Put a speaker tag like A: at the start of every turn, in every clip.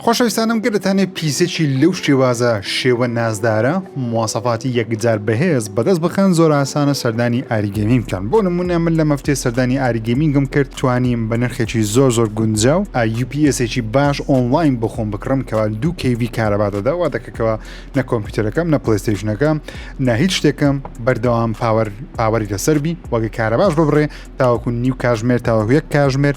A: خۆشەویستانم گەر دەتانێ پیزێکی لەو شێوازە شێوە نازدارە مواسەفاتی یەکجار بەهێز بەدەست بخەن زۆر ئاسانە سەردانی ئاری گەیمینگ بکەن بۆ نمونە من لە مەفتێ سەردانی ئاری گەیمینگم کرد توانیم بە نرخێکی زۆر زۆر گونجاو ئا یو پی ئێسێکی باش ئۆنڵاین بۆ خۆم بکڕم کەوا دوو کەیڤی کارەبا دەدا وا دەکە کەوا نە کۆمپیوتەرەکەم نە پڵەیستەیشنەکەم نە هیچ شتێکم بەردەوام پاوەر پاوەری لەسەر بی وەگە کارەباش ببڕێ تاوەکو نیو کاژمێر تاوەکو یەک کاژمێر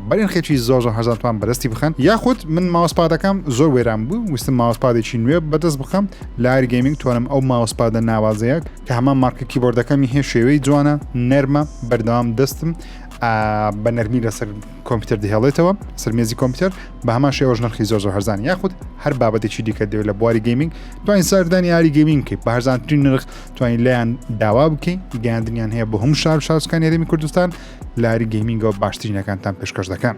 A: بە نرخێکی زۆر زۆر هەزار تومان بەدەستی بخەن یاخود من ماوسپادەکەم زۆر وێران بوو ویستم ماوسپادێکی نوێ بەدەست بخەم لە ئاری گەیمینگ توانم ئەو ماوسپادە ناوازەیە کە هەمان مارکە کیبۆردەکەمی هەیە شێوەی جوانە نەرمە بەردەوام دەستم بە نەرمی لەسەر کۆمپیوتەر دهێڵێتەوە سەرمێزی کۆمپیوتەر بە هەمان شێوەش نرخی زۆر زۆر هەرزان یاخود هەر بابەتێکی دیکە دەوێت لە بواری گەیمینگ توانین سەردانی یاری گەیمینگ بکەیت بە هەرزانترین نرخ توانین لایەن داوا بکەین گەیاندنیان هەیە بە هەموو شار شارچکان هەرێمی کوردستان لاری گەیمینگەوە باشترینەکانتان پێشکەش دەکەن.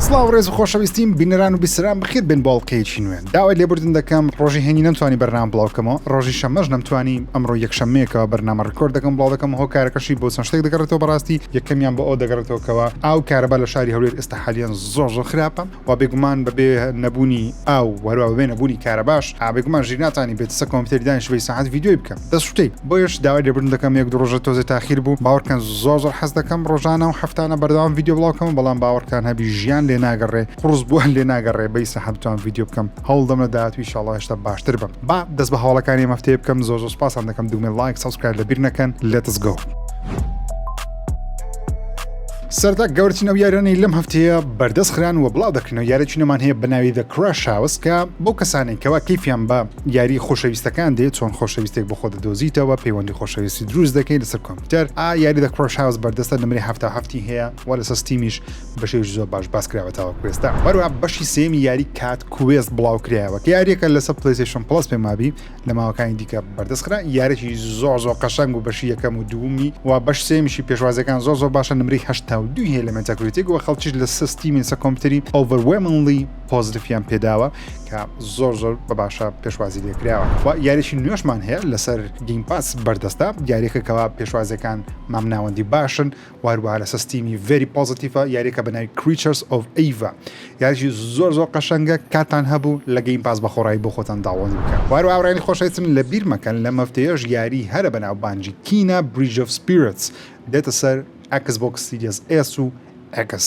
A: سڵاو ڕێز و خۆشەویستیم بینەران و بیسران بخیر بن باڵقەیەکی نوێن داوای لێبوردن دەکەم ڕۆژی هێنی نەمتوانی بەرنام بڵاوکەمەوە ڕۆژی شەمەش نەمتوانی ئەمڕۆ یەکشەمەیەکەوە بەرنامە ڕکۆرد دەکەم بڵاو دەکەم هۆکارەکەشی بۆ چەند شتێک دەگەڕێتەوە بەڕاستی یەکەمیان بۆ ئەو دەگەڕێتەوەکەوە ئاو کارەبا لە شاری هەولێر ئێستا حالیان زۆر زۆر خراپە وە بێگومان بەبێ نەبوونی ئاو و هەروە بەبێ نەبوونی کارەباش ئا بێگومان ژیر ناتانی بێت سە کۆمپیتەری دانیشی بەی ساعەت ڤیدیۆی بکە دەست شوتەی بۆیەش داوای لێبوردن دەکەم یەک دوو ڕۆژە تۆزێ تاخیر بوو باوەڕکەن زۆر زۆر حەز دەکەم ڕۆژانە و هەفتانە بەردەوام ڤیدیۆ بڵاو کەمە بەڵام باوەڕکان هەبی ژیان لێ ناگەڕێ قوڕس بووە لێ ناگەڕێ بەی ساحەت بتوان ڤیدیۆ بکەم هەوڵدەم لە داهاتوو ان شاء اللە هێشتا باشتر بم با دەست بە هەواڵەکانی ئەم هەفتەیە بکەم زۆر زۆر سوپاستان دەکەم دوگمەی ڵایک سەبسکرایب لەبیر نەکەن لێتس گۆ. سەرەتا گەورەترین ئەو یاریانەی لەم هەفتەیە بەردەست خران و بڵاو دەکرێنەوە یارێکی نەمان هەیە بە ناوی دە کراش هاوس کە بەو کەسانێک کەوا کەیفیان بە یاری خۆشەویستەکان دێت چۆن خۆشەویستێک بۆ خۆ دەدۆزیتەوە پەیوەندی خۆشەویستی دروست دەکەی لەسەر کۆمپیوتەر ئا یاری دە کراش هاوس بەردەستە نمرەی هەفتا هەفتی هەیە وە لەسەر ستیمیش بەشێوی زۆر باش باس کراوە تاوە کوێستا هەروە بەشی سێمی یاری کات کوێست بڵاو کرایەوە کە یاریەکە لەسەر پلیسیشن پڵس پێمابی لە ماوەکانی دیکە بەردەست خرا یارێکی زۆر زۆر قەشنگ و بەشی یەکەم و دوومی و بەش سێمیشی پێشوازەکان زۆر زۆر باشە نمری هەشتا و دوی هەیە لە مەتەکرێتێک و خەڵکیش لە سستی مینسە کۆمپیوتری ئۆڤەروێمنلی پۆزتفیان پێداوە کە زۆر زۆر بە باشە پێشوازی لێکراوە و یاریشی نوێشمان هەیە لەسەر گیم پاس بەردەستە یاریەکەکەەوە پێشوازەکان مامناوەندی باشن وهەروەها لەسەر ستیمی ڤێری پۆزەتیڤە یاریەکە بەناوی کریچەرس ئۆف ئەیڤا یاریی زۆر زۆر قەشەنگە کاتان هەبوو لە گەیم پاس بەخۆڕایی بۆ خۆتان داوەڵی بکەن وهەروەها ئەوانەی خۆشەویستن لەبیر مەکەن لەم هەفتەیەش یاریی هەرە بەناوبانگی کینا بریج ئۆف سپیرتس دێتە سەر ئەکس بۆکس سیریەس ئێس و ئێکس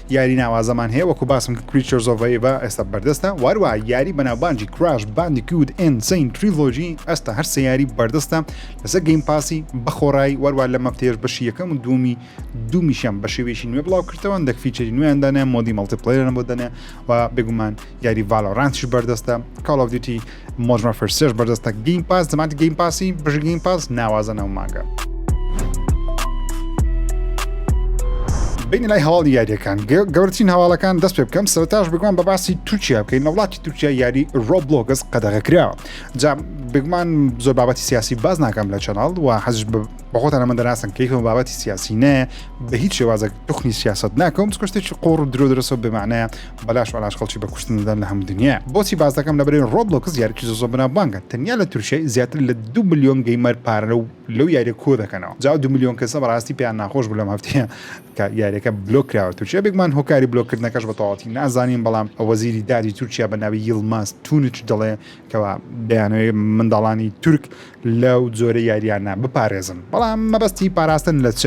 A: یاری ناوازەمان هەیە وەکو باسم کرد Creatures of Ava ئێستا بەردەستە واروها یاری بەناوبانگی Crash Bandicoot Insane Trilogy ئەستا هەر سێ یاری بەردەستە لەسەر گەیم پاسی بەخۆڕایی واروها لەم هەفتەیەش بەشی یەکەم و دوومی دوومیشیان بە شێوەیەکی نوێ بڵاو کردەوە هەندێک فیچەری نوێیان دانێ مۆدی مەڵتیپلەیەران بۆ دەنێ و بێگومان یاری ڤالۆرانتیش بەردەستە کاڵ ئۆف دیوتی مۆدرن وارفێر سێش بەردەستە گەیم پاس دەمانتی گەیم پاسی بژی گەیم پاس ناوازە ناو مانگە بین لای هەواڵی یاریەکان گەورترین هەواڵەکان دەست پێ بکەم سەرتاش بگوان بە باسی تورکیا بکەین وڵاتی تورکیا یاری ڕۆبلۆگەس قەدەغە کراوە جا بگومان زۆر بابەتی سیاسی باز ناکەم لە چەناڵ و حەز بەخۆتان ئەمە دەناسن کەیفم بابەتی سیاسی نایە بە هیچ شێوازە توخنی سیاست ناکەم کوشتێکی قۆڕ درۆ درەسە بمانە بەلاش بەلاش خەڵکی بە کوشتن دەدەن لە هەموو دنیا بۆچی باس دەکەم لەبەرەی ڕۆبلۆکس یارکی زۆزۆ بەناوبانگە تەنیا لە تورکیای زیاتر لە دوو ملیۆن گەیمەر پارە لەو لەو یاریە کۆ دەکەنەوە جاو دوو ملیۆن کەسە بەڕاستی پێیان ناخۆش بوو لەم هەفتەیە کە یاریەکە بلۆک کراوە تورکیا بێگومان هۆکاری بلۆک کردنەکەش بە تەواوەتی نازانین بەڵام وەزیری دادی تورکیا بە ناوی یڵماز تونچ دەڵێ کەوا دەیانەوێ منداڵانی تورک لەو جۆرە یاریانە بپارێزن بەڵام مەبەستی پاراستن لە چ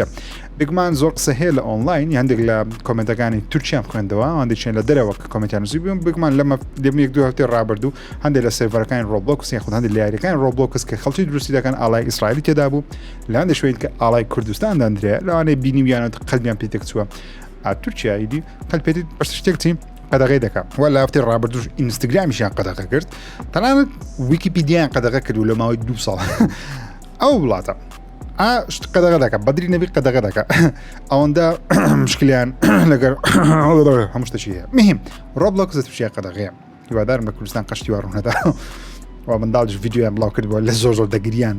A: بگمان زۆر قسە هەیە لە ئۆنلاین هەندێک لە کۆمنتەکانی تورکیان خوێندەوە هەندێکیان لە دەرەوە کە کۆمنتیان نووسی بووم بگمان لەمە دەمێک دو هەفتەی ڕابردوو هەندێک لە سێڤەرەکانی ڕۆبلۆکس یاخود هەندێک لە یاریەکان ڕۆبلۆکس کە خەڵکی دروستی دەکەن ئالای ئیسرائیلی تێدا بوو لە هەندێک شوێن کە ئالای کوردستان دەندرێ لەوانەیە بینی ویانەوە قەلبیان پێتێک چووە تورکیا ئیدی قەلپێتی بەشتێک چین قەدەغەی دەکەم وە لافتەی ڕابردوش ئینستاگرامیشیان قەدەغە کرد تەنانەت ویکیپیدیان قەدەغە کرد و لە ماوەی دو ساڵ ئەو وڵاتە شت قەدەغە دەکە بەدری نەبی قەدەغە دەکە ئەوەندە مشکلیان لەگەر هەمشتەشی هەیە مهم ڕۆبلۆک زەتشیە قەدەغەیە هیوادارم لە کوردستان قشتی وڕوونەدا و منداڵش یددیویان بڵاو کردووە لە زۆر زۆر دەگریان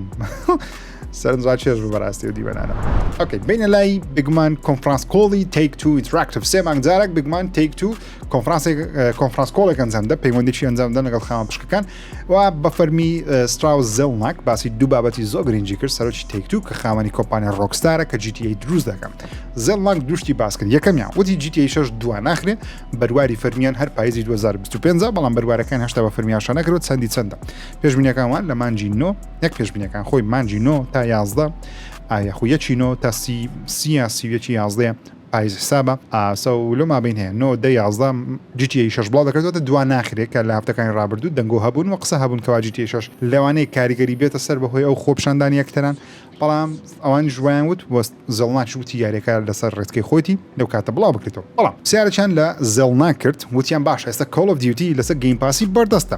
A: سەرنج ڕاکێش بوو بەڕاستی و دیوەنانە ئۆکەی بینە لای بگمان کۆنفرانس کۆڵی تێک تو ئینتراکتیف سێ مانگ جارێک بگمان تێک تو کۆنفرانسێک کۆنفرانس کۆڵێک ئەنجام دە پەیوەندێکی ئەنجام دەن لەگەڵ خاوەن پشکەکان و بە فەرمی ستراو زەڵناک باسی دوو بابەتی زۆر گرنگی کرد سەرۆکی تێک تو کە خاوەنی کۆمپانیا ڕۆکستارە کە جیتی دروست دەکەم زەڵناک دوشتی باس کرد یەکەمیان وتی جیتی شش دوا ناخرێ بەرواری فەرمیان هەر پایزی 2025 بەڵام بەروارەکان هەشتا بە فەرمیاشانەکرەوە چەندی چەندە پێشبینەکانوان لە مانجی نۆ نەک پێشبینەکان خۆی مانجی نۆ تا یازدە ئایا خو یەکی نۆ تا سی سیا سیویەکی یازدە پایز حسابە ئاسە و لۆ مابین هەیە نۆ دە یازدە جیتی شش بڵاو دەکردێتە دو ناخرێت کە لە هەفتەکانی رابردوو دەنگۆ هەبوون و قسە هەبوون کەوا جیتی شش لەوانەیە کاریگەری بێتە سەر بەهۆی ئەو خۆپشاندانی یەکتران بەڵام ئەوان ژویان وت وەست زێڵناکش وتی یاریەکە لەسەر ڕێچکەی خۆیەتی لەو کاتە بڵاو بکرێتەوە بەڵام پرسیارێکیان لە زێڵناک کرد وتیان باشە ئێستا کۆڵ ئۆف دیوتی لەسەر گەیم پاسی بەردەستە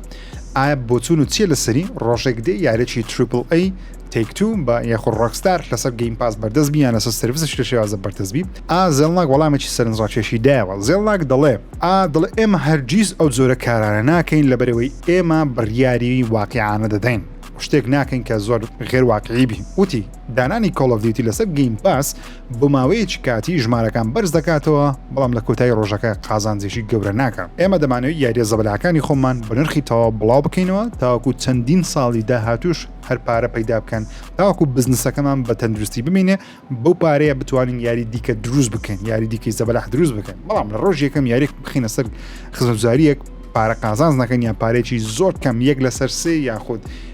A: ئایا بۆچوون و چیە لەسەری ڕۆژێک دێ یاریەکی تریپل ئەی تەیک تو بە یاخۆ ڕۆکستار لەسەر گەیم پاس بەردەست بی یان لەسەر سرویسش لە شێوازە بەردەست بی ئا زێڵناک وەڵامێکی سەرنجڕاکێشی دایەوە زێڵناک دەڵێ ئا دڵێ ئێمە هەرگیز ئەو جۆرە کارانە ناکەین لەبەرئەوەی ئێمە بڕیاری واقیعانە دەدەین شتێک ناکەین کە زۆر غێر واقیعی بی وتی دانانی کۆڵ ئۆف دیوتی لەسەر گەیم پاس بۆ ماوەیەکی کاتی ژمارەکان بەرز دەکاتەوە بەڵام لە کۆتایی ڕۆژەکە قازانجێکی گەورە ناکە ئێمە دەمانەوەی یاریە زەبلاکانی خۆمان بە نرخی تەواو بڵاو بکەینەوە تاوەکو چەندین ساڵی داهاتوش هەر پارە پەیدا بکەن تاوەکو بزنسەکەمان بە تەندروستی بمینێ بەو پارەیە بتوانین یاری دیکە دروست بکەین یاری دیکەی زەبلاح دروست بکەن بەڵام لە ڕۆژ یەکەم یاریێک بخینە سەر خزمزاریەک پارە قازانز نەکەن یان پارێکی زۆر کەم یەک لەسەر سێ یاخود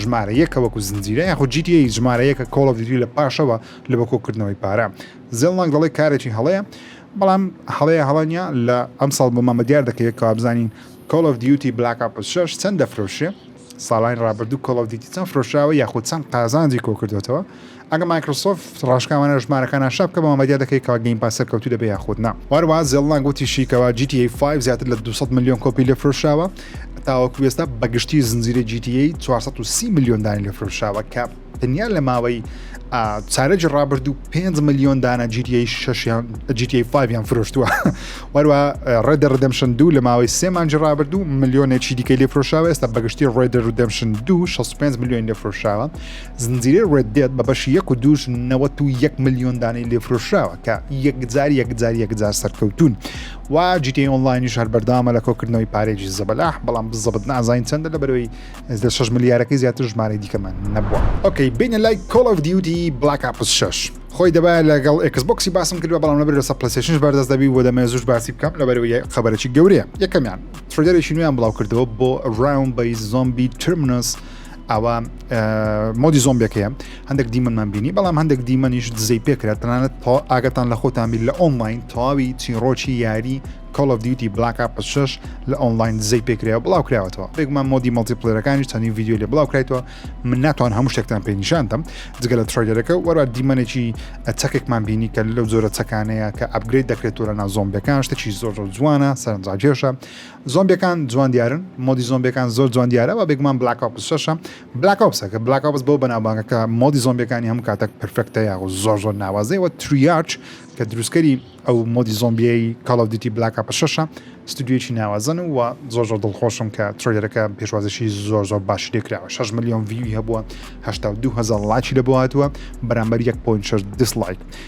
A: ژمارە یەکە وەکو زنجیرە یاخود جی تی ئەی ژمارە یەکە کۆڵ ئۆف دیوتی لە پاشەوە لە بە کۆکردنەوەی پارە زێڵناک دەڵێ کارێکی هەڵەیە بەڵام هەڵەیە هەڵە نیە لە ئەمساڵ بۆمان بە دیار دەکەوێت کەوا بزانین کۆڵ ئۆف دیوتی بلاک ئاپ شەش چەند دەفرۆشێ ساڵانی ڕابردوو کۆڵ ئۆف دیوتی چەند فرۆشراوە یاخود چەند قازانجی کۆکردوێتەوە ئەگەر مایکرۆسۆفت ڕاشکاوانە ژمارەکان ئاشا بکات بەوان بەدیا دەکەیت کەوا گەیم پاس سەرکەوتوو دەبێت یاخود نا. هەروەها زێلنانگ وتیشی کەوا جی تی ئەی فایڤ زیاتر لە دوو سەد ملیۆن کۆپی لێفرۆشراوە تاوەکو ئێستا بەگشتی زنجیرەی جی تی ئەی چوار سەد و سی ملیۆن دانە لێفرۆشراوە کە تەنیا لە ماوەی چارەکی ڕابردوو پێنج ملیۆن دانە جی تی ئەی شەشیان جی تی ئەی فایڤیان فرۆشتووە وەروە ڕێدە ڕدەمشن دوو لە ماوەی سێ مانجی ڕابردوو ملیۆنێکی دیکەی لێفرۆشراوە ئێستا بەگشتی ڕێدە ڕدەمشن دوو 65 ملیۆن لێفرۆشراوە زنجیرەی ڕێد دێد بە بەشی یەک و دووش نەوەت و یەک ملیۆن دانەی لێفرۆشراوە کە یەکجار یەکجار یەکجار سەرکەوتون و جیتی ئۆنلاینیش هەر بەردەوامە لە کۆکردنەوەی پارێکی زەبەلاح بەڵام بزەبت نازانین چەندە لە بەرەوەی زە شش ملیارەکەی زیاتر ژمارەی دیکەمان نەبووە ئۆکەی بینە لای کۆڵ ئەف دیوتی بڵاک ئاپس شش خۆی دەبایە لەگەڵ ئەکسبکسی باسم کردوە بەڵام لەبەر لەسە پلسێشنش بەردەست دەبی و دەمێ زوش باسی بکەم لەبەرەوەی خبرەی گەورەیە یەکەمیان ترێدەرێکی نوێیان بڵاو کردەوە بۆ ڕاون بەی زۆمبی ترمنس ئەوە مۆدی زۆمبێک هەیە هەندێک دیمەنمان بینی بەڵام هەندێک دیمەنیش دزەی پێکرا تەنانەت تا ئاگەتان لە خۆتان بیر لە ئۆنلاین تەواوی چیڕۆکی یاری کۆڵ دیوتی بلاکا پشش لە ئۆنلاین دزەی پێکرا بڵاو کراوەتەوە بێگومان مۆدی مەڵتیپلێرەکانی چەندین ویددیو لە بڵاو کرایتەوە من ناتوان هەموو شتێکتان پێ نیشاندەم جگە لە ترۆیلەکە وەرا دیمەنێکی چەکێکمان بینی کە لەو زۆرە چەکانەیە کە ئەبگریت دەکرێت و لە نازۆمبەکان شتێکی زۆر زۆر جوانە سەرنجاکێشە زۆمبیەکان جوان دیارن مۆدی زۆمبیەکان زۆر جوان دیارە وە بێگومان بلاک ئۆپس شەش ە بلاک ئۆپسە کە بلاک ئۆپس بەو بەناوبانگە کە مۆدی زۆمبیەکانی هەموو کاتەک پرفێکتە یاخو زۆر زۆر ناوازەیە وە تریارچ کە دروستکەری ئەو مۆدی زۆمبیەی کاڵ ئۆف دیوتی بلاک ئۆپس شەش ە ستودیۆیەکی ناوازەن و وە زۆر زۆر دڵخۆشم کە تریلەرەکە پێشوازیی زۆر زۆر باشی لێ کراوە شەش ملیۆن ڤیوی هەبووە هەشتا و دوو هەزار ڵایکی لەبۆ هاتووە بەرامبەر یەک پۆینت شەش دیسڵایک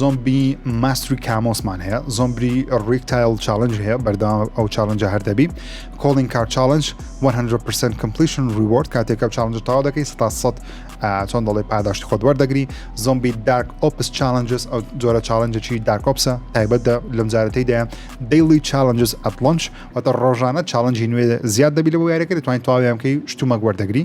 A: زۆمبی ماستری کامۆسمان هەیە زۆمبری ڕیک تایل چالنج هەیە بەردەوام ئەو چالنجە هەردەبی کۆڵین کار چالنج 100% کمپلیشن ریوارد کاتێکە چالنج تاو دەکەی ستا سەد چۆن دەڵێ پاداشتی خۆت وەردەگری زۆمبی دارک ئۆپس چالنجز ئەو جۆرە چالنجەکی دارکۆپسە تایبەت لەم جارەتی دەیان دەیلی چالنجز ئەتلۆنچ واتە ڕۆژانە چالنجی نوێ زیاد دەبی لە بۆ یارەکە دەتوانین تاویانکەی شتومەک وەردەگری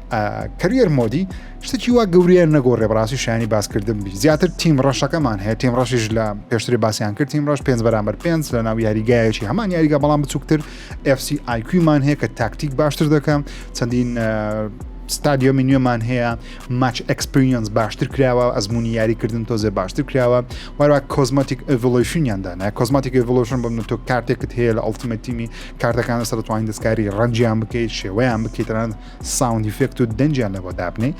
A: کەریەر مۆدی شتێکی وا گەوریان نەگۆڕێ بەڕاستی شانی باسکردن بی زیاتر تیم ڕەشەکەمان هەیە تیم ڕەشیش لە پێشتری باسییان کرد تیم ڕەش پێ بەرامبەر پێ لە ناو یاریگایەکی هەمان یاریگا بەڵام بچووکتر FC آیکویمان هەیە کە تاکتیک باشتر دەکەم چەندین ستادیۆمی نوێمان هەیە ماچ ئەکسپریەنس باشتر کراوە ئەزمموی یاریکردن تۆزێ باشتر کراوە وارا کۆزمەتیک ئڤلوشنیاندانە کۆزمەتیک ئڤلوشن بم تۆ کارتێکت هەیە لە ئەڵتمەتیمی کارتەکان لەسەر توانین دەستکاری ڕەنجیان بکەیت شێوەیان بکەیتران ساوند ئیفێکت و دەنجیان لەوە دابنێ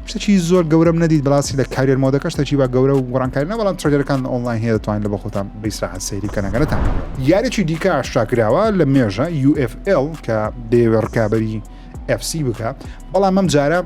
A: شتێکی زۆر گەورەم نەدیت بەڵاستی لە کاریێر مۆدەکە شتەکی بە گەورە و گۆڕانکاری نە بەڵام ترێرەکان ئۆنلاین هەیە دەتوانین لە بە خۆتان بیسراحەت سەیری کەنەگەرەتان یارێکی دیکە ئاشتاکراوە لە مێژە UFL کە دەیەوێ ڕکابی FC بکە بەڵام ئەم جارە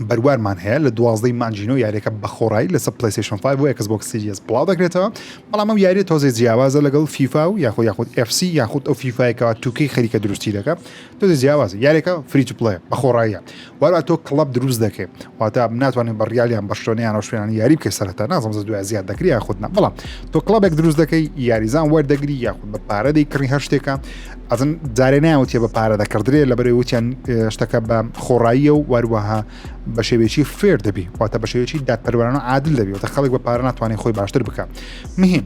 A: بەروارمان هەیە لە دوازدەی مانجینۆ یاریەکە بەخۆڕایی لەسە پلیسیشن 5 بۆ ئەکس بۆک سریس بڵاو دەکرێتەوە بەڵام ئەم یاری تۆزێ جیاوازە لەگەڵ فیفا و یاخود یاخود FC یاخود ئەو فیفاایکەوە توکەی خەریکە دروستی دەکە تۆ جیاوازی یاریەکە فری تو پلەیە بە خۆڕاییە وارا تۆ کڵب دروست دەکەیت واتا ناتوانین بە ڕیالیان بەشتۆنیان و شوێنانی یاری بکە سەرتا نازم زە دوای زیاد دەکری یاخودنا بەڵام تۆ کڵبێک دروست دەکەی یاریزان وەردەگری یاخود بە پارە دەیکڕی هەر شتێکە ئەزن جارێ ناوتێ بە پارە دەکردرێ لە بەرەی وتیان شتەکە بە خۆڕاییە و واروەها بە شێوێکی فێر دەبی واتە بە شێوێکی دادپەروانە عادل دەبیێتە خەڵک بە پارە ناتوانانی خۆی باشتر بکە مهم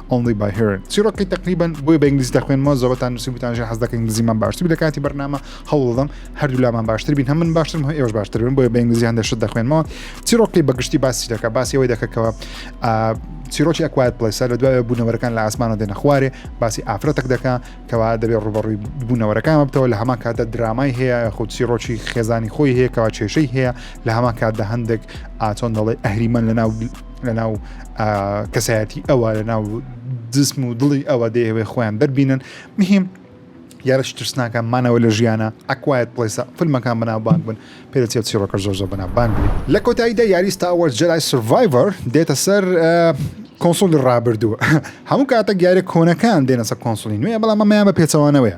A: Only by hearing چیرۆکی تقریبا بۆی بە ئینگلیزی دەخوێنمەوە زۆرتان نووسیبتان ژە حەز دەکە ئینگلیزیمان باشتر لە کاتی بەرنامە هەوڵدەم هەردوولامان باشتر بین هەم من باشترم هەم ئێوەش باشتر بن بۆیە بە ئینگلیزی هەندێک شت دەخوێنمەوە چیرۆکی بەگشتی باسی دەکە باسی ئەوەی دەکەکەوە چیرۆکی ئەکوات پلیسە لە دوای بوونەوەرەکان لە ئاسمانە دێنە خوارێ باسی ئافرەتەک دەکە کەوا دەبێت ڕوبەڕووی بوونەوەرەکان بتەوە لە هەمان کاتە درامای هەیە خود چیرۆکی خێزانی خۆی هەیە کەوا کێشەی هەیە لە هەمان کاتدا هەندێک ئاچۆن دەڵێ ئەهریمەن لە ناو لە ناو کەسایەتی ئەوە لە ناو جسم و دڵی ئەوە دەیەوێ خۆیان دەربینن مهم یارە ترسناکە مانەوە لە ژیانە ئەکوایەت پلیسە فیلمەکان بەنا بانک بن پێدەچێ چیڕۆکە زۆر زۆر بەنا بانک بێت لە کۆتاییدا یاری ستاوەر جلای سڤایڤەر دێتە سەر کۆنسۆلی ڕابردووە هەموو کاتە گارە کۆنەکان دێنەسە کۆنسۆلی نوێ بەڵام ئەمەیان بە پێچەوانەوەیە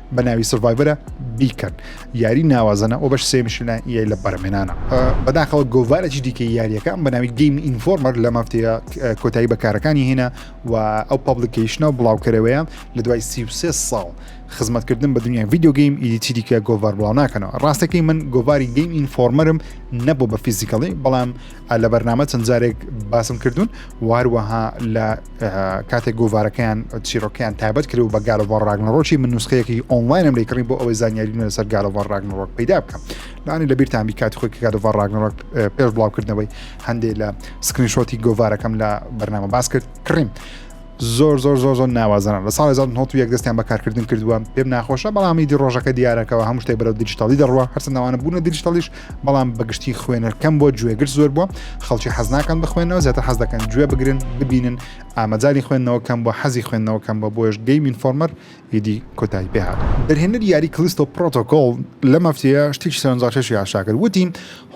A: بە ناوی سڤایڤرە بیکەن یاری ناوازەنە ئەو بەش سێمیشلە یای لە بەرمێنانە بەداخەوە گۆڤارێکی دیکە یاریەکان بە ناوی گەیم ئینفۆرمەر لە مافتەیە کۆتایی بەکارەکانی هێنا و ئەو پابلیکیشنە و بڵاوکەرەوەیە لە دوای سی ساڵ خزمەتکردن بە دنیای ڤیددیوگەیم ئیدیتی دیکە گۆڤار بڵاو ناکەنەوە ڕاستەکەی من گۆڤاری گەیم ئینفۆرمەرم نەبوو بە فیزیکەڵی بەڵام لە بەرنامە چەند جارێک باسم کردوون واروەها لە کاتێک گۆڤارەکەیان چیرۆکەیان تابەت کرد و بە گالۆڤ ڕاگنڕۆکی من نوسخەیەکی ئۆنلاینم لەیکڕی بۆ ئەوەی زانیاری نوێ لەسەر گالۆڤ ڕاگنڕۆک پیدا بکەم لانی لە بیرتان بیکات خۆی گالۆڤ ڕاگنڕۆک پێش بڵاوکردنەوەی هەندێک لە سکرینشۆتی گۆڤارەکەم لە بەرنامە باس کرد کڕیم. زۆر زۆر زۆر زۆر ناوازەن لە ساڵ 1970 دەستیان بەکارکردن کردووە پێم ناخۆشە بەڵامی دی ڕۆژەکە دیارەکەەوە هەموو شتێک بەرەو دیجیتالی دەڕوە هەرسە ناوانە بوونە دیجیتالیش بەڵام بەگشتی خوێنەر کەم بۆ گوێگر زۆر بووە خەڵکی حەزناکەن بخوێنەوە زیاتر حەز دەکەن گوێ بگرن ببینن ئامەجاری خوێندنەوە کەم بۆ حەزی خوێندنەوە کەم بە بۆش گەیمین فۆرمەر ئیدی کۆتایی پێهات دەرهێنەر یاری کلیستۆ پرۆتۆکۆل لە مەفتەیە شتێکی سەرنجڕاکێشی ئاشاکرد وتی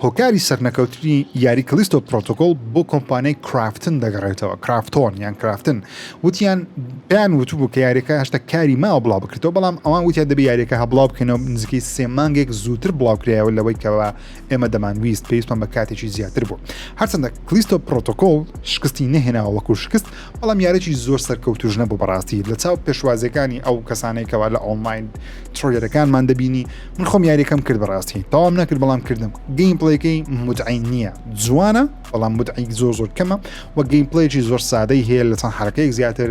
A: هۆکاری سەرنەکەوتنی یاری کلیستۆ پرۆتۆکۆل بۆ کۆمپانیای کرافتن دەگەڕێتەوە کرافتۆن یان کرافتن وتیان پێیان وتبوو کە یاریەکە هەشتا کاری ماوە بڵاو بکرێتەوە بەڵام ئەوان وتیان دەبێ یاریەکە هە بڵاو بکەنەوە نزیکەی سێ مانگێک زووتر بڵاوکرایەوە لەوەی کەەوە ئێمە دەمانویست پێویستمان بە کاتێکی زیاتر بوو هەرچەندە کلیستۆ پرۆتۆکۆل شکستی نەهێناوە وەکو شکست بەڵام یارێکی زۆر سەرکەوتوش نەبوو بەڕاستی لە چاو پێشوازەکانی ئەو کەسانێکەوە لە ئۆنلاین ترۆلەرەکانمان دەبینی من خۆم یاریەکەم کرد بەڕاستی تاوام نەکرد بەڵام کردم گەیم پڵێکەی مدعین نییە جوانە بەڵام مدعیک زۆر زۆر کەمە و گەیمپلەیەکی زۆر سادەی هەیە لە چەند حرەکەیەک زیاتر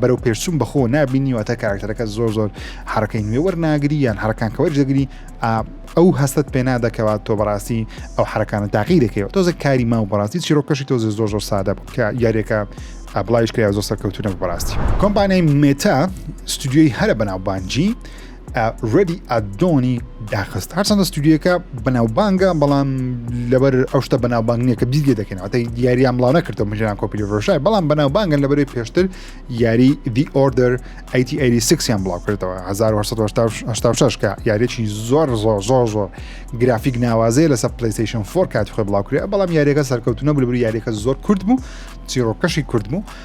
A: بەرەو پێرسوم بەخۆ نبینی واتە کارکتەرەکە زۆر زۆر حرەکەی نوێ وەرناگری یان حرەکان کەوەر دەگری ئەو هەستت پێ نادەکەوات تۆ بەڕاستی ئەو حرەکانە تاقی دەکەوە تۆزە کاری ما و بەڕاستی چیرۆکەشی تۆزە زۆر زۆر سادە بوو کە یاریەکە بڵایش کرا زۆر سەرکەوتونە بەڕاستی کۆمپانیای مێتا ستودیۆی هەرە بەناوبانجی ڕێدی ئادۆنی داخست هەرچەندە ستودیوەکە بەناوبانگە بەڵام لەبەر ئەو شتە بەناوبانگ نیە کە بیست لێ دەکەن ئەتەی دیاریان بڵاو نەکردەوە مژیان کۆپیلی ڕۆژای بەڵام بەناوبانگن لەبەر پێشتر یاری دی ئۆردەر ئەیتیسیان بڵاو کردەوە 1970 کە یاریێکی زۆر زۆر زۆر زۆر گرافیک ناوازەیە لەسەر پلیسیشن فۆر کاتی خۆی بڵاو کرێ بەڵام یاریەکە سەرکەوتونە بلبر یاریەکە زۆر کورد بوو چیرۆکەشی کورد بوو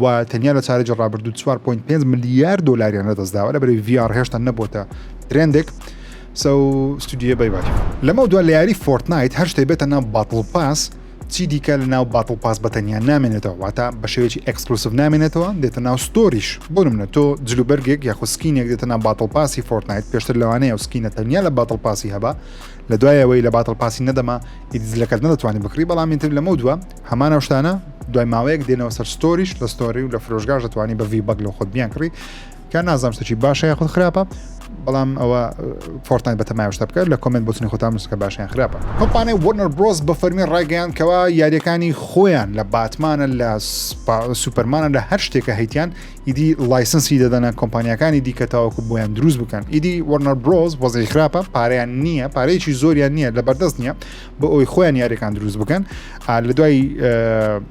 A: و تەنیا لە چارەجی ڕابردوو 4.5 ملیار دلاریان لەدەستداوە لە بەری VR هێشتا نەبووتە ترندێک سەو ستودیە بای بای لەمە دو لە یاری فۆرتنایت هەر شتێ بێتە ناو باتڵ پاس چی دیکە لە ناو باتڵ پاس بەتەنیا نامێنێتەوە واتە بە شێوەیەکی ئەکسکلوسف نامێنێتەوە دێتە ناو ستۆریش بۆ منە تۆ جلوبەرگێک یاخو سکینێک دێتە ناو باتڵ پاسی فۆرتنایت پێشتر لەوانەیە و سکینە تەنیا لە باتڵ پاسی هەبە لە دوایەوەی لە باتڵ پاسی نەدەما ئیدزلەکەت نەدەتوانی بکڕی بەڵام تر لەمە دووە هەمان ئەو شتانە دوای ماوەیەک دێنەوە سەر ستۆریش لە ستۆری و لە فرۆشگاش دەتوانانی بە ڤی بەگ لە خۆت بیان کڕی کە نازانام شتەکی باشە یا خود خراپە بەڵام ئەوە فۆرتان بە تەمای شتە بکە لە کۆمنت بۆچنی خۆتان نووسکە باشیان خراپە کۆمپانای وەرنەر برۆز بە فەرمی ڕایگەیان کەوا یاریەکانی خۆیان لە باتمانە لە سوپەرمانە لە هەر شتێکە هەیتیان ئیدی لایسنسی دەدەنە کۆمپانیەکانی دیکە تاوەکو بۆیان دروست بکەن ئیدی وەرنەر برۆز وەزی خراپە پاریان نییە پارەیەکی زۆریان نییە لە بەردەست نییە بۆ ئەوی خۆیان یاریەکان دروست بکەن لە دوای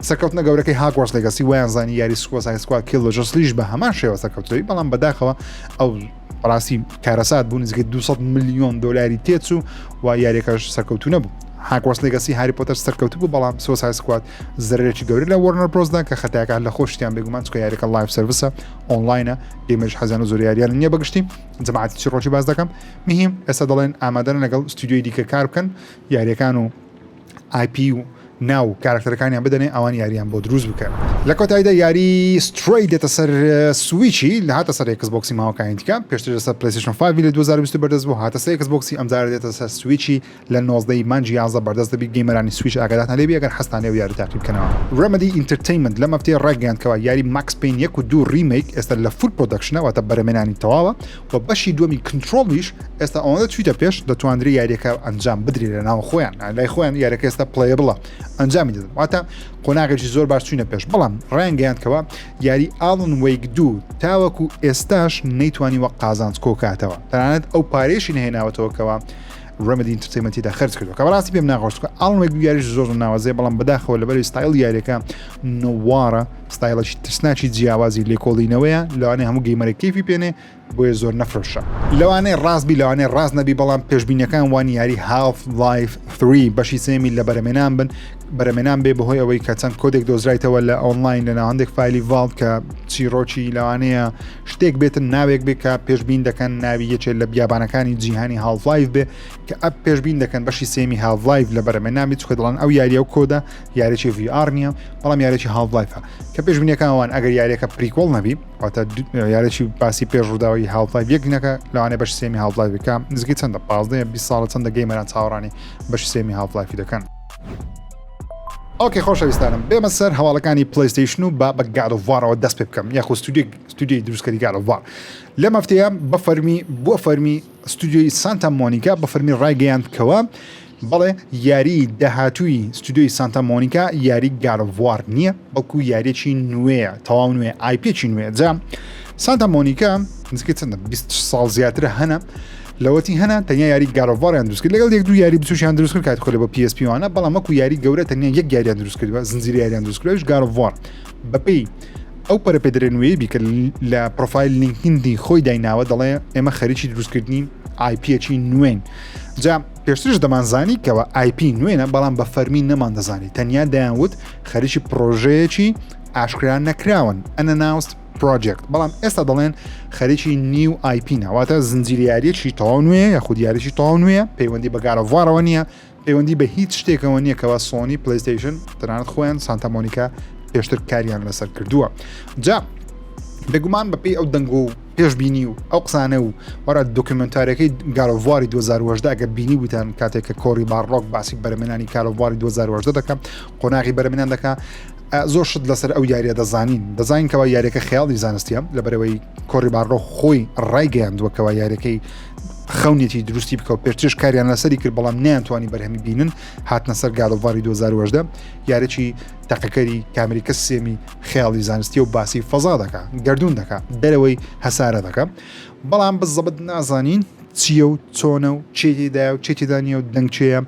A: سەرکەوتنە گەورەکەی هاگۆرس لەگەسی ویان زانانی یاری سکۆ سایسکوا کیل لە جسلیش بە هەمان شێوە سەرکەوتەوەی بەڵام بەداخەوە ئەو ڕاستی کارەسات بوو نزیکە 200 میلیۆن دلاری تێچوو و یاریەکەش سەرکەوتو نەبوو هاکۆس لەگەسی هاری پۆتەر سەرکەوت بوو بەڵام سۆسای سکوات زرێکی گەوری لە وەرنەر پرۆزدا کە خەتاکان لە خۆشتیان بێگومان چکە یاریەکە لایف سرویسە ئۆنلاینە ئێمەش حەزیان و زۆریاریان نییە بەگشتی جماعاتی چی ڕۆژی باز دەکەم مهم ئێستا دەڵێن ئامادەن لەگەڵ ستۆدیۆی دیکە کار بکەن یاریەکان و ئای پی و ناو کاراکتەرەکانیان بدەنێ ئەوان یاریان بۆ دروست بکەن. لە کۆتایدا یاری سترەی دێتە سەر سویچی لە هاتە سەر ئێکس بۆکسی ماوەکانی دیکە پێشتر لەسەر پلەیستەیشن فایڤی لە دوو هەزار و بیست بەردەست بوو هاتە سەر ئێکس بۆکسی ئەمجارە دێتە سەر سویچی لە نۆزدە ی مانگی یازدە بەردەست دەبیت گەیمەرانی سویچ ئاگادارتان لێبی ئەگەر حەزتان لێ ئەو یاری تاقی بکەنەوە. Remedy Entertainment لەم هەفتەیە ڕایگەیاند کەوا یاری Max Payne یەک و دوو Remake ئێستا لە فول پرۆدەکشنە واتە بەرەمێنانی تەواوە و بەشی دووەمی Control یش ئێستا ئەوەندە چویتە پێش دەتواندرێ یاریەکە ئەنجام بدرێ لە ناو خۆیان لای خۆیان یارەکە ئێستا Playable ئەنجامی دەدەن واتە قۆناغێکی زۆر باش چوینە پێش بەڵام ڕایانگەیاند کەوا یاری Alan Wake دوو تاوەکو ئێستاش نەیتوانیوە قازانج کۆکاتەوە تەنانەت ئەو پارەیەشی نەهێناوەتەوە کەوا ڕێمەدی ئینتەرتەیمەنت تێدا خەرج کردووە کە بەڕاستی پێم ناخۆش چکە ئاڵن وێک یاریش زۆر زۆر ناوازەیە بەڵام بەداخەوە لەبەری ستایل یاریەکە نووارە ستایلەکی ترسناکی جیاوازی لێکۆڵینەوەیە لەوانەیە هەموو گەیمەرە کیفی پێنێ بۆیە زۆر نەفرۆشە لەوانەیە ڕاستبی لەوانەیە ڕاست نەبی بەڵام پێشبینەکان وان یاری هاف لایف 3 بەشی سێمی لە بەرەمێنان بن بەرەمێنان بێ بەهۆی ئەوەی کە چەند کۆدێک دۆزرایتەوە لە ئۆنلاین لە ناوەندێک فایلی ڤالد کە چیرۆکی لەوانەیە شتێک بێتن ناوێک بێ کە پێشبین دەکەن ناوی یەکێت لە بیابانەکانی جیهانی هاڵفلایف بێ کە ئەپ پێشبین دەکەن بەشی سێمی هاڵفلایف لە بەرەمێ نامی چکە دڵن ئەو یاریە و کۆدا یارێکی VR نییە بەڵام یارێکی هاڵفلایفە کە پێشبینەکانوان ئەگەر یاریەکە پریکۆڵ نەبی واتە یارێکی باسی پێش ڕووداوی هاڵفلایف یەکنەکە لەوانێ بەش سێمی هاڵفلایفەکە نزگی چەندە پازدە 20 ساڵە چەندە گەیمەران چاوەڕانی بەش سێمی هاڵفلایفی دەکەن ئۆکەی خۆشەویستانم بێمە سەر هەواڵەکانی پلیستیشن و با بە گاد وارەوە دەست پێ بکەم یاخۆ ستودیوی دروستکەری گاد وار لە مەفتەیە بە فەرمی بۆ فەرمی ستودیوی سانتا مۆنیکا بە فەرمی ڕایگەیاند کەوە بەڵێ یاری داهاتووی ستودیوی سانتا مۆنیکا یاری گارڤوار نییە بەڵکو یاریێکی نوێە تەواو نوێ ئایپێکی نوێ جا سانتا مۆنیکا نزیکە چەندە 20 ساڵ زیاترە هەنە لەوەتی هەنان تەنیا یاری گاد ئۆف واریان دروست کرد لەگەڵ یەک دوو یاری بچوکیان دروست کرد کاتی خۆی لە بۆ پی ئێس پی وانە بەڵام وەکو یاری گەورە تەنیا یەک یاریان دروست کردووە زنجیرە یاریان دروست کردووە ئەویش گاد ئۆف وار بەپێی ئەو پەرە پێدرێنوەیە بی کە لە پرۆفایل لینکدین خۆی دایناوە دەڵێ ئێمە خەریکی دروستکردنی ئایپیەکی نوێن جا پێشترش دەمانزانی کەەوە ئایپی نوێنە بەڵام بە فەرمی نەمان دەزانی تەنیا دەیانوت خەریکی پرۆژەیەکی ئاشکرا نەکراون ئەنە ناوست پرۆجێکت بەڵام ئێستا دەڵێن خەریکی نیو ئایپی ناواتە زنجیریارێکی تەواو نوێ یا خودیارێکی تەواو نوێ پەیوەندی بەگارەڤارەوە نییە پەیوەندی بە هیچ شتێکەوە نییە کەوا سۆنی پلیستیشن تەنانەت خۆیان سانتەمۆنیکا پێشتر کاریان لەسەر کردووە جا بێگومان بەپی ئەو دەنگ و پێشببینی و ئەو قسانە و وەرە دۆکیمنتارەکەی گالۆڤواری 2010 ئەگە بینی بوتان کاتێک کە کۆری باڕۆک باسی بەرمێنانی کالۆڤواری 2010 دەکەم قۆناغی بەرمێنان دەکە زۆر شت لەسەر ئەو یاریە دەزانین دەزانین کەوا یاریەکە خیاڵی زانستە لەبەرەوەی کۆری بارڕۆ خۆی ڕایگەیاندووە کەوا یاریەکەی خەونێتی دروستی بکەوت پێرچش کاریان لەسەری کرد بەڵام نیانتوانی بەرهەمی بینن هاتنە سەر گادڵڤاری 2010 یارێکی تەقەکەری کامریکە سێمی خیاڵی زانستی و باسی فەزا دەکە گردردون دەکە دەرەوەی هەسارە دەکە بەڵام بە زەبت نازانین چیە و چۆنە و چێتیدا و چێتیدانە و دەنگچەیە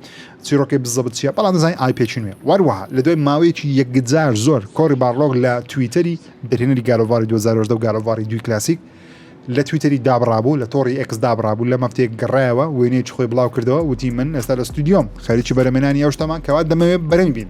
A: چیرۆکی بزەبت چیە بەڵام دەزانین ئای پێکی نوێ وەروەها لە دوای ماوەیەکی یەکجار زۆر کۆری بارلۆگ لە تویتەری دەرهێنەری گاد ئۆف واری 2018 و گاد ئۆف واری دووی کلاسیک لە تویتەری دابڕابوو لە تۆڕی ئێکس دابڕابوو لە مەفتێک گەڕایەوە وێنەیەکی خۆی بڵاو کردەوە وتی من ئێستا لە ستودیۆم خەریکی بەرەمێنانی ئەو شتەمان کەوا دەمەوێت بەرەمی بین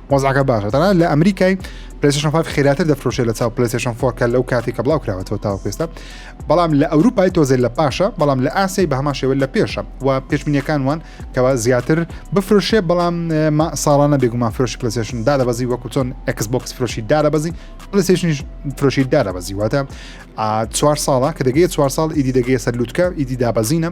A: وەزعەکە باشە تەنان لە ئەمریکای پلیسشن فاف خێراتر دەفرۆشێت لە چاو پلیسشن فۆرکە لەو کاتی کە بڵاو کراوەەوە تاو پێستا بەڵام لە ئەوروپای تۆزێ لە پاشە بەڵام لە ئاسی بە هەما شێوە لە پێشە و پێشبینیەکان وان کەوا زیاتر بفرۆشێ بەڵام ساڵانە بێگومان فرۆشی پلیسشن دادەبەزی وەکو چۆن ئەکسبکس فرۆشی دادەبەزی پلیسشنیش فرۆشی دادەبەزی واتە ئا چوار ساڵە کە دەگەیە چوار ساڵ ئیدی دەگەیە سەر لوتکە ئیدی دابەزینە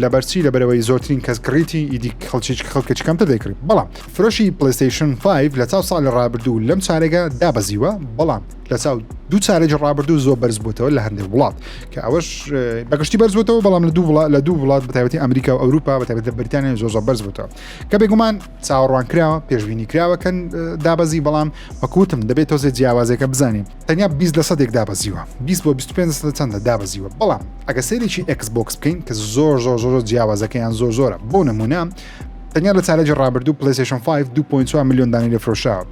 A: لەبەرچی لەبەرەوەی زۆرترین کەس کڕیتی ئیدی خەڵکیچ خەڵکەچ کەمتر دەیکڕی بەڵام فرۆشی پلیستیشن 5 لە چاو ساڵی ڕابردوو لەم چارێگا دابەزیوە بەڵام لە چاو دوو چارێکی ڕابردوو زۆر بەرز بووتەوە لە هەندێک وڵات کە ئەوەش بەگشتی بەرز بووتەوە بەڵام لە دوو وڵات لە دوو وڵات بەتابەتی ئەمریکا و ئەوروپا بەتابێت لە بریتانیا زۆر زۆر بەرز بووتەوە کە بێگومان چاوەڕوان کراوە پێشببینی کراوەکەن دابەزی بەڵام وەکوتم دەبێت تۆزێ جیاوازەکە بزانین تەنیا بیست لە سەدێک دابەزیوە بیست بۆ بیست و پێنج لە سەدە چەندە دابەزیوە بەڵام ئەگە سەیرێکی ئێکس بۆکس بکەین کە زۆر زۆر زۆر جیاوازەکەیان زۆر زۆرە بۆ نمونە تەنیا لە چارەجی ڕابردوو پلیسشن 5 2.4 میلیۆن دانی لە فرۆشاوە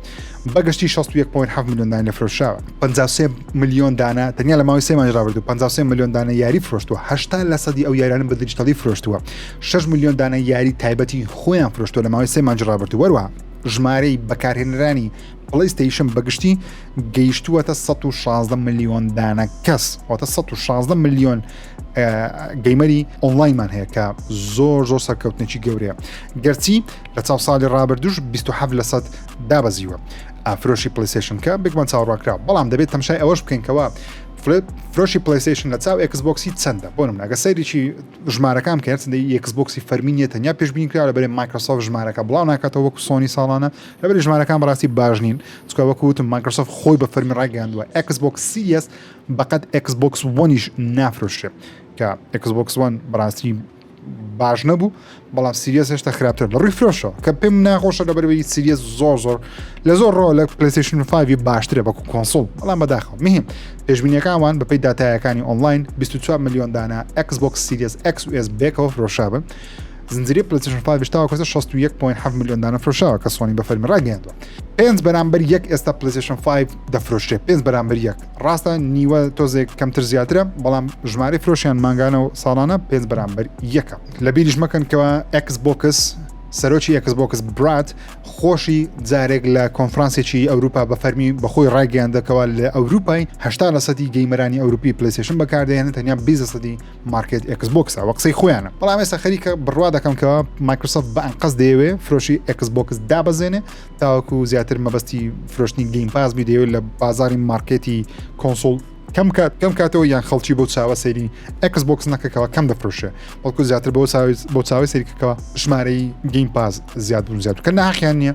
A: بەگشتی 61.7 میلیۆن دانی لە فرۆشاوە 53 میلیۆن دانە تەنیا لە ماوەی سێ مانج ڕابردوو 53 میلیۆن دانە یاری فرۆشتووە هشتا لە سەدی ئەو یارانە بە دیجیتەڵی فرۆشتووە 6 میلیۆن دانە یاری تایبەتی خۆیان فرۆشتووە لە ماوەی سێ مانج ڕابردوو وەروە ژمارەی بەکارهێنرانی پڵەی ستەیشن بەگشتی گەیشتووەتە 16 ملیۆن دانە کەس واتە 16 ملیۆن گەیمەری ئۆنلاینمان هەیە کە زۆر زۆر سەرکەوتنێکی گەورەیە گەرچی لە چاو ساڵی ڕابردوش 27 لە سەد دابەزیوە ئافرۆشی پلیسشن کە بێکمان چاڕاکرا بەڵام دەبێت تەمشای ئەوەش بکەینکەوە فرۆشی پلیسشن لە چاو ئەکسبکسی چەندە بۆ منگە سەیرێکی ژمارەکان کە هەرچندی یەکسبکسی فەرمینیە تەنیا پێشبینکرا لە بەرێ مایکرۆسۆف ژمارەکە بڵاو ناکاتەوە وەکو سۆنی ساڵانە لەبری ژمارەکان بەڕاستی باش نین چکە وەکو وتم مایکرۆسۆفت خۆی بە فەرمی ڕاگەیاندووە ئەکس بۆکس سیریەس بەقەت ئەکس بۆکس وەنیش نافرۆشێ کە ئەکس بۆکس وان بەڕاستی باش نەبوو بەڵام سیریەس هێشتا خراپتر لە ڕووی فرۆشەوە کە پێم ناخۆشە لە بەرەوەی سیریەس زۆر زۆر لە زۆر ڕۆ لە پلیسیشن فاوی باشترە بەکو کۆنسڵ بەڵام بەداخەوە مهم پێشبینیەکانوان بەپی دااتایەکانی ئۆنلاین 24 میلیۆن دانە ئەکس بۆکس سیریەس ئەکس ئس بێکەوە فرۆشابن زنجیرەی پلەیستێشن 5 ش تاوەکو ئێستا 61.7 ملیۆن دانە فرۆشاوە کە سۆنی بە فەرمی ڕاگەیاندووە پێنج بەرامبەر یەک ئێستا پلەیستێشن 5 دەفرۆشێ پێنج بەرامبەر یەک ڕاستە نیوە تۆزێک کەمتر زیاترە بەڵام ژمارە فرۆشیان مانگانە و ساڵانە پێنج بەرامبەر یەکە لە بیریش مەکەن کەەوە ئەکس بۆکس سەرۆکی ئەکس بۆکس برات خۆشی جارێک لە کۆنفرانسێکی ئەوروپا بە فەرمی بەخۆی ڕایگەیاندەکەوە لە ئەوروپای هشتا لە سەدی گەیمەرانی ئەوروپی پلیسشن بەکاردێنە تەنیا بیزە سەدی مارکێت ئێکس بۆکس ئەوە قسەی خۆیانە بەڵام ئێستا خەریکە بڕوا دەکەم کە مایکرسۆفت بە ئەنقەس دەیەوێ فرۆشی ئێکس بۆکس دابەزێنێ تاوەکو زیاتر مەبەستی فرۆشتنی گەیم پاس بیدەوێت لە بازاری مارکێتی کۆنسۆل کەم کات کەم کاتەوە یان خەڵکی بۆ چاوە سەری ئەکس بۆکس نەکەکەەوە کەم دەفرۆشێ بەڵکو زیاتر بۆ بۆ چاوی سەریکەکەەوە ژمارەی گەیم پاس زیاد بوون زیاد کە ناخیان نییە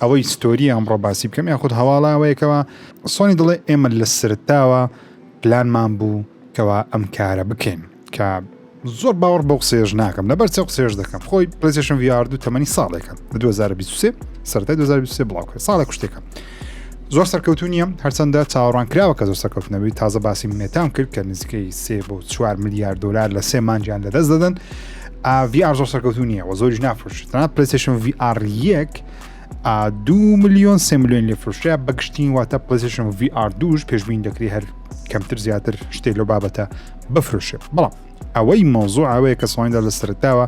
A: ئەوەی ستۆری ئەمڕۆ باسی بکەم یاخود هەواڵاوەیەکەوە سۆنی دڵێ ئێمە لە سرتاوە پلانمان بوو کەوا ئەم کارە بکەین کە زۆر باوەڕ بەو قسێژ ناکەم لەبەر چە قسێژ دەکەم خۆی پلیسشن ویاردو تەمەنی ساڵێکە 2023 سەرای 2023 بڵاوکە ساڵە کوشتێکە زۆر سەرکەوتو نیە هەرچەندە چاوەڕان کراوە کە زۆر سەرکەوتنەوەی تازە باسی مێتام کرد کە نزیکەی سێ بۆ چوار میلیارد دلار لە سێ مانجیان لەدەست دەدەن VR زۆر سەرکەوتو نییە و زۆریش نافرۆشتنا پلیسشن VR یەک دو میلیۆن سێ میلیۆن لێ فرۆشە بە گشتین واتە پلیسشن VR دوش پێشبین دەکری هەر کەمتر زیاتر شتێ لە بابەتە بفرۆشێ بەڵام ئەوەی مۆزوع ئەوەیە کە سڵیندا لە سەرتاوە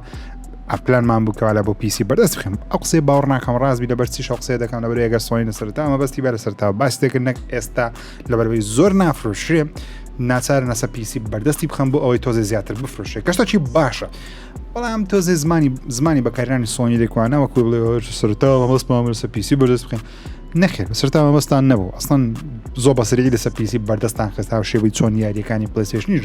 A: ئەپلانمان بووکەوە لە بۆ پیسی بەردەست بخم ئەو قسەی باوەڕ ناکەم ڕاستبی لە بەرسی شخصێ دەکەم لە بەرێگە سڵین لە سەرتاوە بەستی بەرە سەرتاوە باس دەکرد نەک ئێستا لەبەرەوەی زۆر نافرۆشرێ ناچار نەسە پیسی بەردەستی بخەم بۆ ئەوەی تۆزێ زیاتر بفرۆشێ کەشتەکی باشە بەڵام تۆزێ زمانی زمانی بەکارانی سۆنی لێکوانە وەکو بڵێ سەرتاوە مەستمامەسە پیسی بەردەست بخێن نەخێر سەرتاوە مەستان نەبوو ئەسڵەن زۆ بەسری لەسە پیسی بەردەستان خستا و شێوی چۆن یاریەکانی پلسێشنیش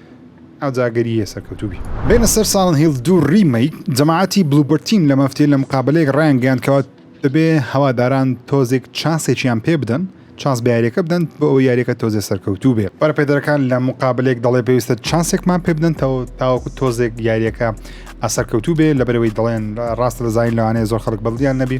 A: ئاجاگەرییە سەرکەوتوبی. بێنە سەر ساڵن هیڵ دوو ڕیمەیک. جەماعەتی بلوبەرد تیم لە مەفتێ لە مقابەلەیەک ڕایانگەیاند کەوا دەبێ هەواداران تۆزێک چانسێکیان پێ بدەن، چانس بە یاریەکە بدەن بۆ ئەوەی یاریەکە تۆزێ سەرکەوتوو بێ. بەرەپێدەرەکان لە مقابەلەیەک دەڵێ پێویستە چانسێکمان پێ بدەن تاوەکو تۆزێک یاریەکە سەرکەوتوو بێ لەبەرەوەی دەڵێن ڕاستە دەزانین لەوانەیە زۆر خەڵک بەدڵیان نەبی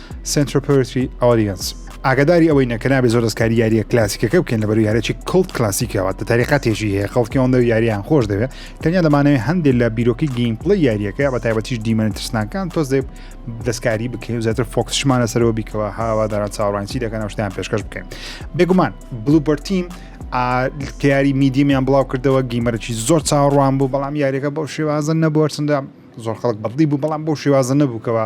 A: Central Poetry Audience ئاگاداری ئەوەینە کە نابێ زۆر دەستکاری یاریە کلاسیکەکە بکەن لە بەروی هەرێکی کڵت کلاسیکەوە تە تاریقا تێژی هەیە خەڵکیەوەندە و یاریان خۆش دەوێت تەنیا دەمانەوێ هەندێک لە بیرۆکی گەیمپڵی یاریەکە بە تایبەتیش دیمەنە ترسناکان تۆز دێ دەستکاری بکەین و زیاتر فۆکسشمانە سەرەوە بیکەوە هاوادارە چاوڕانسی دەکەن شتیان پێشکەش بکەین بێگومان بلوبەرتیم کاری میدیمیان بڵاو کردەوە گیمەرەی زۆر چاوەڕوان بوو بەڵام یاریەکە بەو شێوازن نەبووەرچندە زۆر خەڵک بەدڵی بوو بەڵام بەو شێوازە نەبوو کەەوە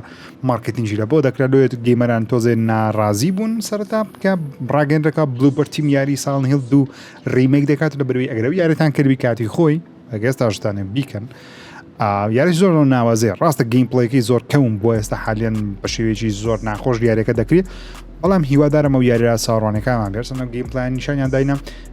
A: مارکتینجی لە بۆ دەکرا لۆێت گەیمەران تۆزێ ناڕازی بوون سەرتا بکە بڕاگەندەکە بلوبەر تیم یاری ساڵ هێڵ دوو ریمێک دەکات لە بەروی ئەگەرەوە یارێتان کردوی کاتی خۆی ئەگەس تاشتانێ بیکەن یاری زۆر ناوازێ ڕاستە گەیم پڵێکی زۆر کەون بۆ ئێستا حالیان بە شێوێکی زۆر ناخۆش یاریەکە دەکرێت بەڵام هیوادارم و یاریرا ساڕوانەکانمان بێرسەنە گەیم پلان نیشانیان داینە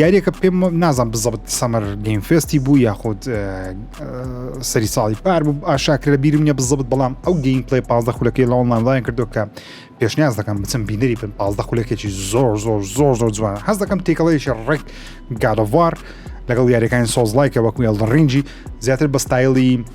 A: یاریەکە پێم نازان بزەبت سەمەر گەیم فێستی بوو یاخود سەری ساڵی پار بوو ئاشاکر لە بیرم نیە بزەبت بەڵام ئەو گەیم پلی پازدە خولەکەی لە ئۆنلاینڵیان کردو کە پێشنیاز دەکەم بچم بینەری بن پازدە خولەکێکی زۆر زۆر زۆر زۆر جوان هەز دەکەم تێکەڵەیەکی ڕێک گادەوار لەگەڵ یاریەکانی سۆزلایکە وەکوێڵ ڕنجی زیاتر بە ستایلی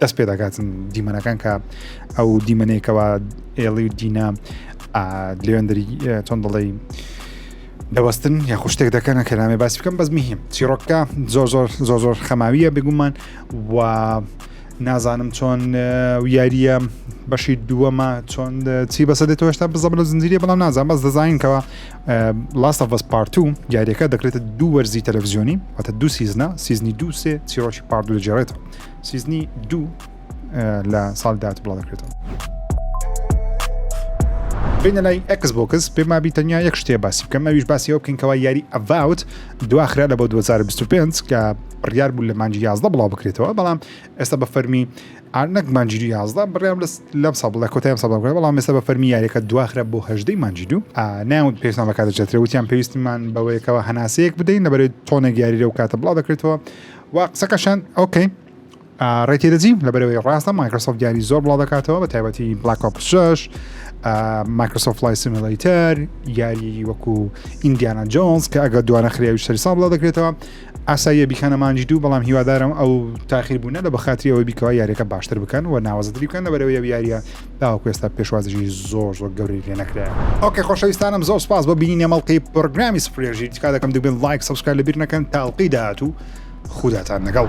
A: دەست پێ دەکاتن دیمەنەکان کە ئەو دیمەنێکەوە ئێڵی و دینا لێندری چۆن دەڵی دەوەستن یا خوشتێک دەکەنە کە نامێ باسی بکەم بەس میهیم چیرۆکە زۆر زۆر زۆر زۆر خەماویە بگومان و نازانم چۆن یاریە بەشی دووەمە چۆن چی بەسە دێتەوە هێشتا بزە لە زنجیری بەڵام نازان بەس دەزانینکەوە لاستە بەس پارت و یاریەکە دەکرێتە دوو وەرزی تەلەڤزیۆنی واتە دوو سیزنە سیزنی دووسێ چیرۆکی پاردو لە جێڕێتەوە سیزنی دوو لە ساڵی داهاتوو بڵاو دەکرێتەوە. بینە لای ئەکس بۆکس پێما بی تەنیا یەک شتێ باسی بکەم ئەویش باسی ئەو بکەین کەوا یاری ئەڤاوت دواخرا لە بۆ 2025 کە بڕیار بوو لە مانجی یازدە بڵاو بکرێتەوە بەڵام ئێستا بە فەرمی ئارنەک مانجی دو یازدە بڕیام لەم ساڵ لە کۆتایم ساڵ بکرێت بەڵام ئێستا بە فەرمی یاریەکە دواخرا بۆ هەژدەی مانجی دوو ناوت پێشتان بەکاتەجێترە وتیان پێویستمان بەوەیەکەوە هەناسەیەک بدەین لەبەرێت تۆنێک یاریرە و کاتە بڵاو دەکرێتەوە وا قسەکەشان ئۆکەی ڕێتی دەجیم لەبەرەوەی ڕاستە مایکرۆسۆف دیاری زۆر بڵاو دەکاتەوە بە تایبەتی بلاک ئۆپشش مایکرۆسۆف لای سیملەیتەر یاری وەکو ئیندیانە جۆنس کە ئەگە دوانە خراوی شەری ساڵ بڵاو دەکرێتەوە ئاساییە بیکانە مانجی دوو بەڵام هیوادارم ئەو تاخیر بوونە لە بەخاتری ئەوەی بیکەوە یاریەکە باشتر بکەن و ناوەزدری بکەن لەبەرەوەی یاریە تاوەکو ئێستا پێشوازیی زۆر زۆر گەورەی لێ نەکرایە. ئۆکەی خۆشەویستانم زۆر سپاس بۆ بینینی ئەم ئەڵقەی پڕۆگرامی سفرێ ژیر تکا دەکەم دەبێت لایک سەبسکرایب لەبیر نەکەن تا ئەڵقەی داهاتوو خوداتان لەگەڵ.